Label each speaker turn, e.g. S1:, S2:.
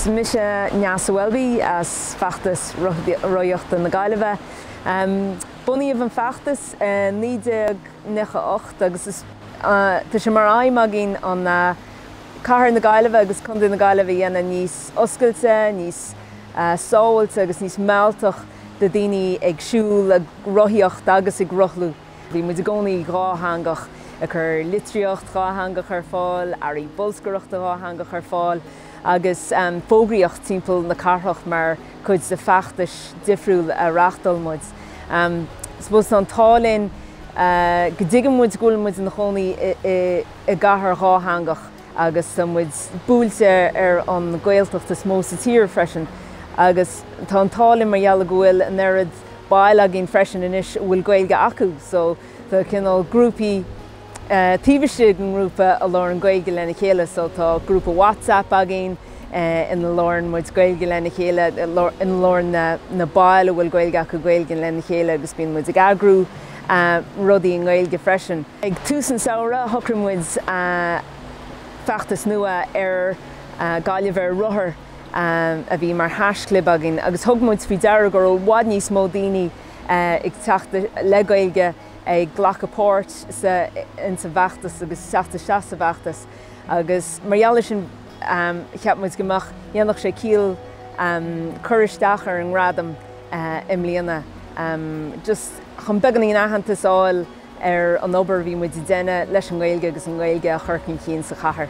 S1: Is mise Neasa Welby as Feachtas Rothaíochta na Gaillimhe. Bunaíodh an feachtas i naoi déag nocha ocht agus tá sé mar aidhm againn an cathair na Gaillimhe agus Contae na Gaillimhe a dhéanamh níos oscailte, níos sábhailte agus níos mealltach do dhaoine ag siúl, ag rothaíocht agus ag rothlú. Bhí muid i gcónaí dhátheangach, ag cur litríocht dhátheangach ar fáil, earraí bolscaireachta dhátheangach ar fáil agus fógraíocht timpeall na cathrach mar chuid de feachtais difriúil a reáchtáil muid. Suppose an t-ádh linn go dtuigeann muid go bhfuil muid ina chónaí i gcathair dhátheangach. agus tá muid buailte ar an Gaeltacht is mó sa tír freisin agus tá an t-ádh linn mar gheall go bhfuil an oiread baill againn freisin anois a bhfuil Gaeilge acu so tá cineál grúpaí taobh istigh den ngrúpa a labhrann Gaeilge lena chéile so tá grúpa WhatsApp againn ina labhrann muid Gaeilge lena chéile, ina labhrann na baill a bhfuil Gaeilge acu Gaeilge lena chéile agus bíonn muid ag eagrú. rudaí i nGaeilge freisin. Ag tús an samhradh, shocraigh muid feachtas nua ar Gaillimh ar Rothar a bhí mar haischlib againn agus thug muid faoi deara go raibh i bhfad níos mó daoine ag teacht le Gaeilge ag glacadh páirt sa insa bhfeachtas agus teacht isteach sa bhfeachtas agus mar gheall ar sin cheap muid go mbeadh, déanfadh sé ciall cur isteach ar an nGradam. i mbliana. Just chun beagáinín aitheantas fháil ar an obair a bhí muid a déanamh leis an nGaeilge agus an Ghaeilge a chur chun cinn sa chathair.